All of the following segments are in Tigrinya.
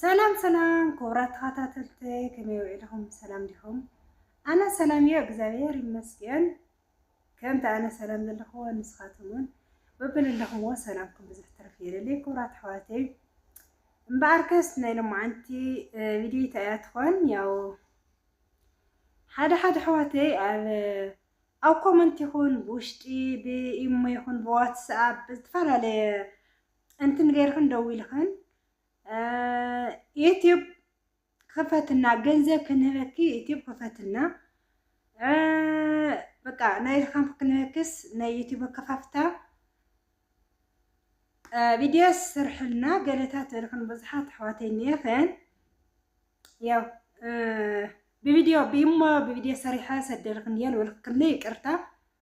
ሰላም ሰላም ክቡራት ተኸታተልተይ ከመይ ውዒልኹም ሰላም ዲኹም? ኣነ ሰላም እዮ እግዚኣብሔር ይመስገን። ከምቲ ኣነ ሰላም ዘለኹዎ ንስኻትኩም እውን በብለለኹምዎ ሰላምኩም ብዙሕ ትርፍ የለለይ ክቡራት ኣሕዋተይ። እምበኣር ከስ ናይ ሎማዓንቲ ቪድዮ እያ ትኾን ያው ሓደ ሓደ ኣሕዋተይ ኣብ ኣብ ኮመንት ይኹን ብውሽጢ ብኢሞ ይኹን ብዋትስኣፕ ብዝተፈላለየ እንትን ገይርክን ደዊልክን ዩትዩብ ክፈትና ገንዘብ ክንህበኪ ዩትዩብ ክፈትና በቃ ናይ ዝኻን ክንህበክስ ናይ ዩትዩብ ከፋፍታ ቪድዮ ስርሕልና ገለታት እልክን ብዙሓት ኣሕዋተይ እኒአኽን ያው ብቪድዮ ብኢሞ ብቪድዮ ሰሪሐ ሰደልክን እየን ወልክክኒ ይቅርታ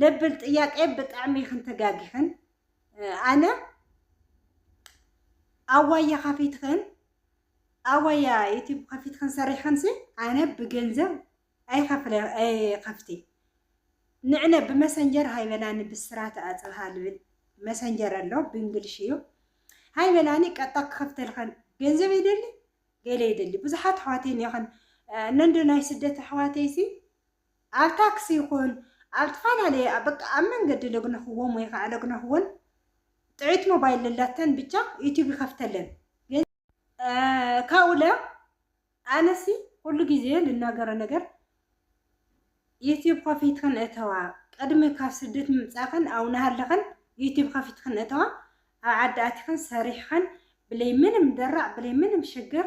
ለብል ጥያቄ ብጣዕሚ ኢኽን ተጋጊኽን ኣነ ኣዋያ ከፊትኽን ኣዋያ ዩቲብ ከፊትኽን ሰሪሕኽንሲ ኣነ ብገንዘብ ኣይኸፍለ ኣይኸፍቲ ንዕነ ብመሰንጀር ሃይበላኒ ብስራት ኣጽብሃ ልብል መሰንጀር ኣሎ ብእንግሊሽ እዩ ሃይበላኒ ቀጣ ክኸፍተልኸን ገንዘብ ይደሊ ገለ ይደሊ ብዙሓት ኣሕዋተይ እኒኦኸን ነንዶ ናይ ስደት ኣሕዋተይሲ ኣብ ታክሲ ይኹን ኣብ ትፋላለየ ኣብ በቃ ኣብ መንገዲ ለግነኽዎም ወይ ኻዓ ለግነኽወን ጥዕት ሞባይል ለላተን ብቻ ዩቱብ ይኸፍተለን ግን ካውለ ኣነሲ ኩሉ ግዜ ልናገሮ ነገር ዩቱብ ኸፊትኽን እተዋ ቅድሚ ካብ ስደት ምምፃእኽን ኣው ናሃለኽን ዩቱብ ኸፊትኽን እተዋ ኣብ ዓዲ ኣቲኽን ሰሪሕኽን ብለይ ምንም ደራዕ ብለይ ምንም ሽግር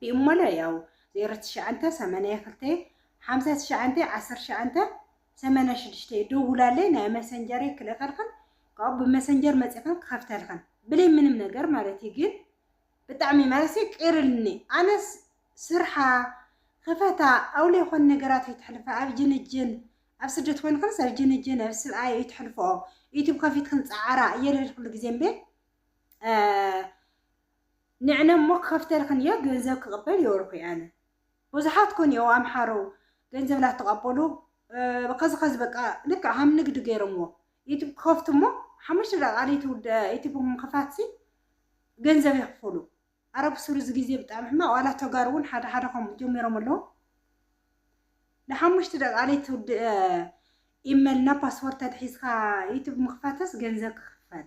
ቢእሞለ ያው ዜሮ ትሽዓንተ ሰመንየ ክልተ ሓምሳ ትሽዓንተ ዓሰርተ ትሽዓንተ ሰመንያ ሽዱሽተ ደውላለይ ናይ መሰንጀረይ ክልእኸልኽን ካብኡ ብመሰንጀር መጺኽን ክኸፍተልኽን ብለይ ምንም ነገር ማለት እዩ ግን ብጣዕሚ ማለት ቅርልኒ ኣነስ ስርሓ ክፈታ ኣውለ ኾን ነገራት ይትሕልፋ ኣብ ጅንጅን ኣብ ስደት ኮይንክንስ ኣብ ጅንጅን ኣብ ስብኣይ ይትሕልፈኦ ዩቱብ ከፊትክን ፃዓራ እየለልክሉ ግዜ እምበ ንዕነ እሞ ክከፍተልክን እዮ ገንዘብ ክቅበል እዮ እርኩይ ኣነ ቡዙሓት ኮን እዮ ኣምሓሩ ገንዘብ ላተቀበሉ ከዚ ከዚ በቃ ልክዕ ሃም ንግድ ገይሮምዎ ዩቱብ ክከፍቱ እሞ ሓሙሽተ ደቂቃ ለይትውዳእ ዩቱብ ምክፋት ሲ ገንዘብ የክፍሉ ኣረ ብሱሩ እዚ ግዜ ብጣዕሚ ሕማቅ ዋላ ተጋሩ እውን ሓደ ሓደ ከምኡ ጀሚሮም ኣለዉ ንሓሙሽተ ደቂቃ ለይትውድእ ኢመል እና ፓስወርድ ተትሒዝካ ዩቱብ ምክፋትስ ገንዘብ ክክፈል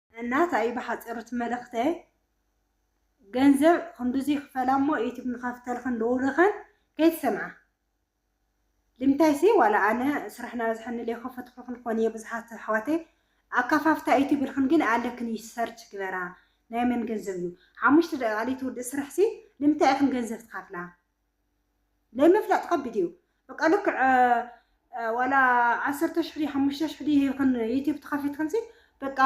እና ታእዩ ብሓፂሩ እቲ መልእክተይ ገንዘብ ክንዱዙ ይክፈላ እሞ ዩቱብ ንከፍተልክን ደውልክን ከይትሰምዓ ልምታይሲ ዋላ ኣነ ስራሕ ናበዝሐኒ ለይከፈትኩልክን ኮን እየ ብዙሓት ኣሕዋተይ ኣካፋፍታ ዩቱብ ኢልክን ግን ኣለክን እዩ ሰርች ግበራ ናይ መን ገንዘብ እዩ ሓሙሽተ ደቂቃ ለይትውድእ ስርሕሲ ልምታይ ኢክን ገንዘብ ትከፍላ ለይምፍላጥ ከቢድ እዩ በቃ ልክዕ ዋላ ዓሰርተ ሽሕ ድዩ ሓሙሽተ ሽሕ ድዩ ሂብክን ዩቲብ ተኸፊትክንሲ በቃ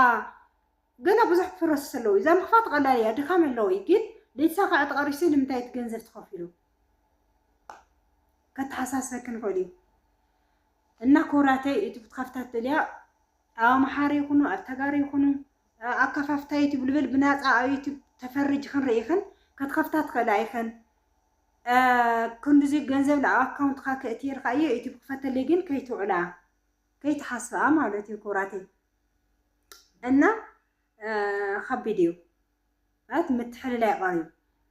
ገና ብዙሕ ፕሮሰስ ኣለዎ እዩ እዛ ምኽፋት ቀላል እያ ድካም ኣለዎ እዩ ግን ለይተሳክዐ ተቐሪሽሲ ንምንታይ እቲ ገንዘብ ተኸፊሉ ከተሓሳስበክን ይኽእል እዩ እና ክብራተይ ዩቲብ ትኸፍታ ትደልያ ኣብ ኣምሓሩ ይኹኑ ኣብ ተጋሩ ይኹኑ ኣከፋፍታ ዩቱብ ልብል ብናፃ ኣብ ዩቱብ ተፈሪጅኽን ርኢኽን ከትኸፍታ ትኽእላ ኢኽን ክንድዚ ገንዘብ ናብ ኣካውንትካ ክእቲ ይርካ እየ ዩቱብ ክፈተለይ ግን ከይትውዕላ ከይትሓስብኣ ማለት እዩ ኩብራተይ እና ከቢድ እዩ ማለት ምትሕልላይ ቐር እዩ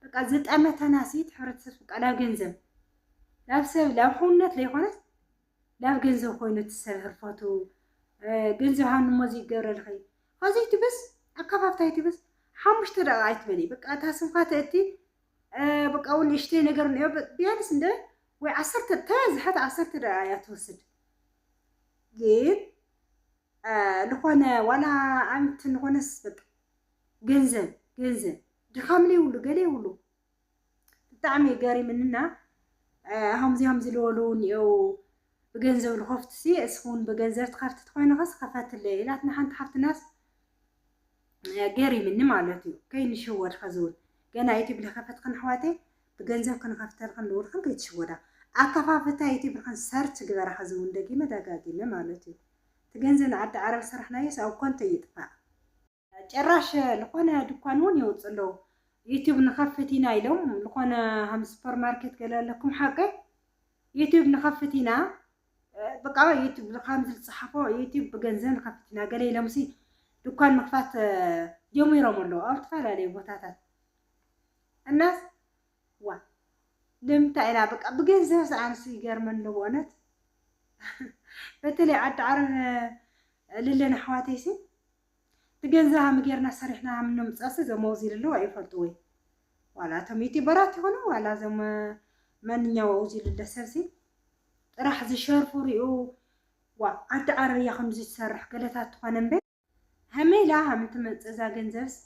በቃ ዝጠመተናሲት ሕብረተሰብ ቃላ ገንዘብ ላብ ሰብ ላብ ሕውነት ለይኮነት ላብ ገንዘብ ኮይኑ እቲ ሰብ ህርፈቱ ገንዘብ ሃብኒ እሞ እዚ ይገብረልኺ ኸዚ ትብስ ኣካፋፍታይ ትብስ ሓሙሽተ ደቂቅ ኣይትበሊ በቃ እታ ስምካ ተእቲ በቃ እውን ንእሽተይ ነገር ንዮ ቢያንስ እንደ ወይ ዓሰርተ ተበዝሐት ዓሰርተ ደቂቅ እያ ትወስድ ግን ዝኾነ ዋላ ኣምት ንኾነስ በቃ ገንዘብ ገንዘብ ድኻም ለይብሉ ገለ የብሉ ብጣዕሚ እዩ ገሪምንና ሃምዚ ሃምዚ ልበሉ እውን እየው ብገንዘብ ልኸፍቱ ሲ እስኹን ብገንዘብ ትኸፍቲ ትኾይንኸስ ኸፈትለይ ኢላትና ሓንቲ ሓፍትናስ ገሪምኒ ማለት እዩ ከይንሽወድ ኸዚ እውን ገና ዩቲብ ልኸፈትኽን ኣሕዋተይ ብገንዘብ ክንኸፍተልኽን ልብልኽን ከይትሽወዳ ኣከፋፍታ ዩቲብልኽን ሰርች ግበራ ኸዚ እውን ደጊመ ደጋጊመ ማለት እዩ እቲ ገንዘብ ንዓዲ ዓረብ ሰራሕናዮስ ኣብ ኮንቶ ይጥፋእ ጭራሽ ልኾነ ድኳን ውን የውጽኡ ኣለዉ ዩቱብ ንኸፍት ኢና ኢሎም ልኾነ ሃም ስፖር ማርኬት ገለ ኣለኩም ሓቂ ዩቱብ ንኸፍት ኢና በቃ ዩቱብ ልኻምዚ ልጽሓፎ ዩቱብ ብገንዘብ ንኸፍት ኢና ገለ ኢሎምሲ ድኳን ምኽፋት ጀሚሮም ኣለዉ ኣብ ዝተፈላለዩ ቦታታት እናስ ዋ ንምንታይ ኢና በቃ ብገንዘብ ዝኣንሱ ይገርመን ኣለዎ እውነት በተለይ ዓዲ ዓረብ ልለን ኣሕዋተይሲ ብገንዘብ ሃም ጌርና ሰሪሕና ሃም ነምጽኣሲ እዞም ኣውዚ ልለዉ ኣይፈልጡ ወይ ዋላ እቶም ዩቲበራት ይኹኑ ዋላ እዞም መንኛው ኣውዚ ልለ ሰብሲ ጥራሕ ዝሸርፉ ሪኡ ዋ ኣንቲ ዓረርያ ከምዚ ትሰርሕ ገለታት ትኾነ እምበ ሃመይ ኢላ ሃም እትመጽእ እዛ ገንዘብስ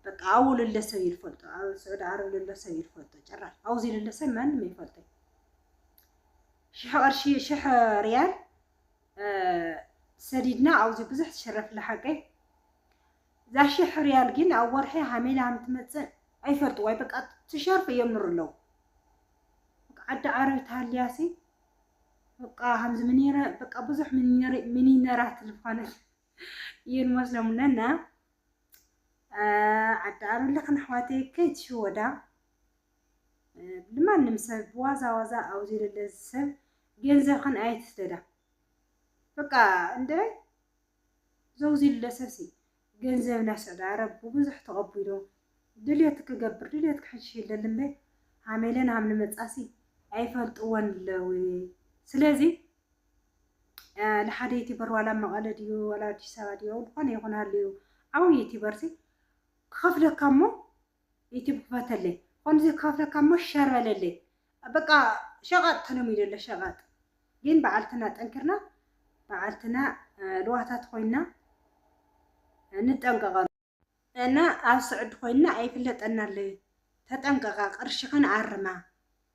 በቃ ኣዉ ልለ ሰብ ይልፈልጦ ኣብ ስዑዲ ዓረብ ልለ ሰብ ይልፈልጦ ጭራሽ ኣውዚ ልለ ሰብ ማንም ኣይፈልጦይ ሽሕ ቅርሺ ሽሕ ሪያል ሰዲድና ኣውዚ ብዙሕ ትሽረፍላ ሓቀይ እዛ ሽሕ ሪያል ግን ኣብ ወርሒ ሃመይላ ሃም ትመጽእ ኣይፈልጥዋይ በቃ ትሸርፍ የምሩ ኣለዉ ዓዲ ዓረብ ተሃልያሲ በቃ ሃምዚ ምኔረ በቃ ብዙሕ ሚኒነራት ልፋነት እየን መስሎም ኣለና ዓዲ ዓረብ ለኽን ኣሕዋተይ ከይትሽወዳ ንማንም ሰብ ብዋዛ ዋዛ ኣብ ዘይለለ ሰብ ገንዘብክን ኣይትስደዳ በቃ እንደ ዘውዚልለ ሰብሲ ገንዘብ ናስዕዳ ረብ ብዙሕ ተቐቢሎ ድልየት ክገብር ድልየት ክሕሽ የለልምበ ሃሜለን ሃም ንመጻሲ ኣይፈልጥወን ኣለዊ ስለዚ ንሓደ ዩቲበር ዋላ መቐለ ድዩ ዋላ ኣዲስ ኣበባ ድዩ ዝኾነ ይኹን ሃልዩ ዓብዪ ዩቲበርሲ ክኸፍለካ እሞ ዩቱብ ክፈተለይ ከምዚ ክከፍተካ እሞ ሸር በለለይ በቃ ሸቀጥ ተለሚዱ ኣሎ ሸቀጥ ግን በዓልትና ጠንኪርና በዓልትና ልዋታት ኮይና ንጠንቀቀሉ እና ኣብ ስዕዲ ኮይና ኣይፍለጠና ኣሎ ተጠንቀቃ ቅርሽክን ኣርማ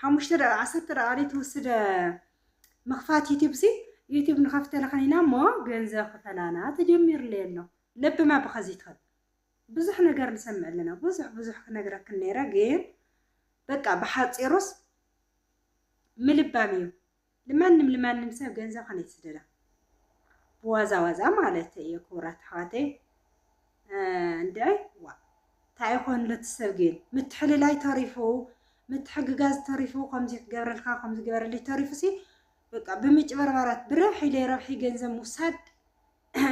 ሓሙሽተ ደቂቅ ዓሰርተ ደቂቅ ዘይትውስድ ምኽፋት ዩቲብ ሲ ዩቲብ ንኸፍተልኽን ኢና እሞ ገንዘብ ክፈላና ተጀሚርለይ ኣሎ ለብማ ብኸዚ ትኸድ ብዙሕ ነገር ንሰምዕ ኣለና ብዙሕ ብዙሕ ክነግረክን ነይረ ግን በቃ ብሓፂሩስ ምልባም እዩ። ልማንም ልማንም ሰብ ገንዘብ ከነይ ትስደዳ ብዋዛ ዋዛ ማለተይ እየ ክቡራት ኣሕዋተይ እንድዒ ዋ እንታይ ይኾን ሎቲ ሰብ ግን ምትሕልላይ ተሪፉ ምትሕግጋዝ ተሪፉ ከምዚ ክገብረልካ ከምዚ ገበረልይ ተሪፉ ሲ በቃ ብምጭበርባራት ብረብሒ ኢለ ረብሒ ገንዘብ ምውሳድ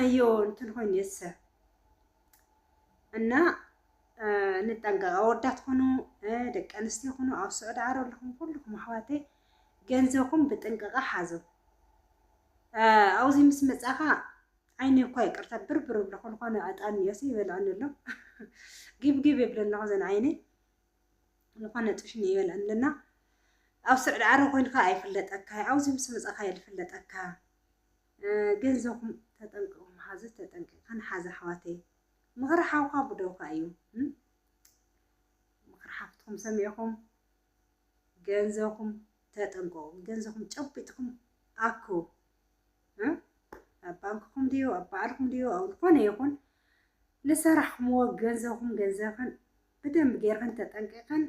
እዮ እንትን ኮይኑ እየ ዝሰብ እና ንጠንቀቕ ኣወዳት ኹኑ ደቂ ኣንስትዮ ኹኑ ኣብ ስዑድ ዓረብ ኣለኹም ኩልኹም ኣሕዋተይ ገንዘኩም ብጥንቅቀ ሓዙ ኣውዚ ምስ መጻካ ዓይኒ እኳ ይቅርታ ብርብር ብሎ ኮንኮነ ዕጣን ዮሲ ይበልዐኒ ኣሎ ጊብጊብ ይብለ ኣለኹ ዘን ዓይኒ ዝኾነ ጥሽኒ ይበልዐኒ ኣለና ኣብ ስዑድ ዓረ ኮይንካ ኣይፍለጠካ ኣብዚ ምስ መጻኻ እየ ዝፍለጠካ ገንዘኹም ተጠንቅቑም ሓዚ ተጠንቂቕካን ሓዚ ኣሕዋተይ ምኽሪ ሓውካ ብደውካ እዩ ምኽሪ ሓፍትኩም ሰሚዕኹም ገንዘኹም ተጠንቀቁ ገንዘኹም ጨቢጥኩም ኣኩ ኣብ ባንክኹም ድዩ ኣብ በዓልኩም ድዩ ኣብ ዝኾነ ይኹን ልሰራሕኩምዎ ገንዘኹም ገንዘኽን ብደንብ ጌርክን ተጠንቂቕን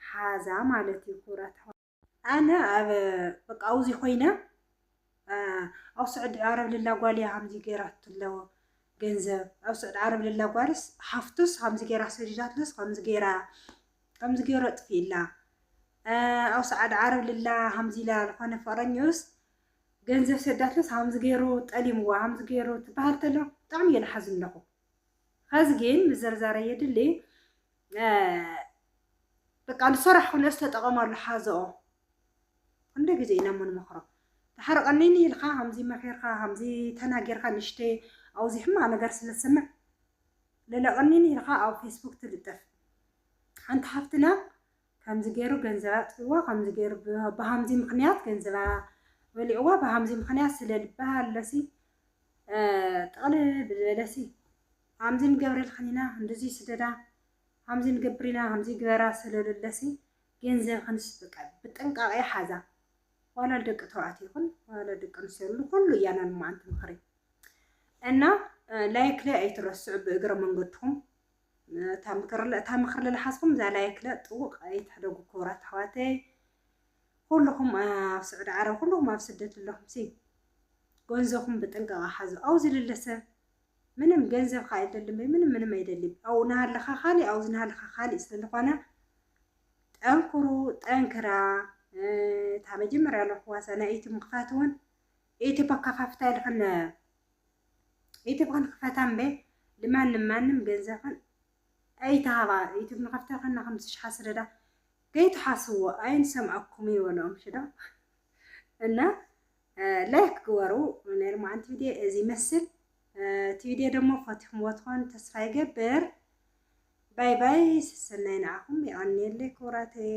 ሓዛ ማለት እዩ ክብራት ኣነ ኣብ በቃ ኣብዚ ኮይነ ኣብ ስዑዲ ዓረብ ልላ ጓል እያ ሃምዚ ገይራቶ ኣለዎ ገንዘብ ኣብ ስዑዲ ዓረብ ልላ ጓልስ ሓፍቱስ ሃምዚ ገይራ ሰዲዳትለስ ከምዚ ገይራ ከምዚ ገይሮ ጥፊእላ ኣብ ስዓዲ ዓረብ ልላ ሃምዚ ኢላ ዝኾነ ፍቅረኛኡስ ገንዘብ ሰዳትለስ ሃምዚ ገይሩ ጠሊምዋ ሃምዚ ገይሩ ትበሃል ተሎ ብጣዕሚ እየ ዝሓዝን ኣለኹ ኸዚ ግን ምዘርዛረ የድሊ በቃ ንሰራሕ ክነስ ተጠቐመሉ ሓዘኦ ክንደይ ግዜ ኢና እሞ ንመኽሮ ተሓርቀኒኒ ኢልካ ከምዚ መኺርካ ከምዚ ተናጊርካ ንሽተይ ኣብዚ ሕማቕ ነገር ስለ ትሰምዕ ልለቐኒኒ ኢልካ ኣብ ፌስቡክ ትልጥፍ ሓንቲ ሃፍትና ከምዚ ገይሩ ገንዘብ ኣጥፊዋ ከምዚ ገይሩ ብሃምዚ ምክንያት ገንዘባ በሊዕዋ ብሃምዚ ምክንያት ስለ ልበሃለሲ ጠቕልል ብዝበለሲ ሃምዚ ንገብረልክን ኢና ህንዱዙይ ስደዳ ሃምዚ ንገብር ኢና ሃምዚ ግበራ ሰለለለሲ ገንዘብክንስ በቃ ብጥንቃቄ ሓዛ ዋላ ደቂ ተባዕትዮ ይኹን ዋላ ደቂ ኣንስትዮ ንኹሉ እያ ናይ መዓንቲ ምኽሪ እና ላይክ ላይ ኣይትረስዑ ብእግረ መንገድኩም እታ ምክሪ ለልሓዝኩም እዛ ላይክ ለ ጥውቅ ኣይትሕደጉ ክቡራት ኣሕዋተይ ኩልኹም ኣብ ስዑዲ ዓረብ ኩልኹም ኣብ ስደት ኣለኹም ሲ ገንዘኹም ብጥንቃቐ ሓዙ ኣውዚ ልለሰ ምንም ገንዘብ ከኣ ኣይደልን በይ ምንም ምንም ኣይደልይ ኣብኡ ናሃለኻ ካሊእ ኣብዚ ናሃለኻ ካሊእ ስለዝኾነ ጠንክሩ ጠንክራ እታ መጀመርያ ኣለኹዋ እዛ ናይ ኢቲ ምኽፋት እውን ኢቲ ኣካፋፍታ ኢልኽን ኢቲ ክንክፈታ እምበ ልማንም ማንም ገንዘብኽን ኣይተሃባ ኢቲ ንኸፍታ ከና ከም ዝሽሓ ስለዳ ከይትሓስዎ ኣይንሰምኣኩም ይበልኦም ሽዶ እና ላይክ ግበሩ ናይ ሎማዓንቲ ቪድዮ እዚ ይመስል እቲ ቪድዮ ደሞ ፈቲኹምዎ ትኾኑ ተስፋ ይገብር ባይ ባይ ሰሰናይ ንዓኹም የቐንየለይ ክቡራተይ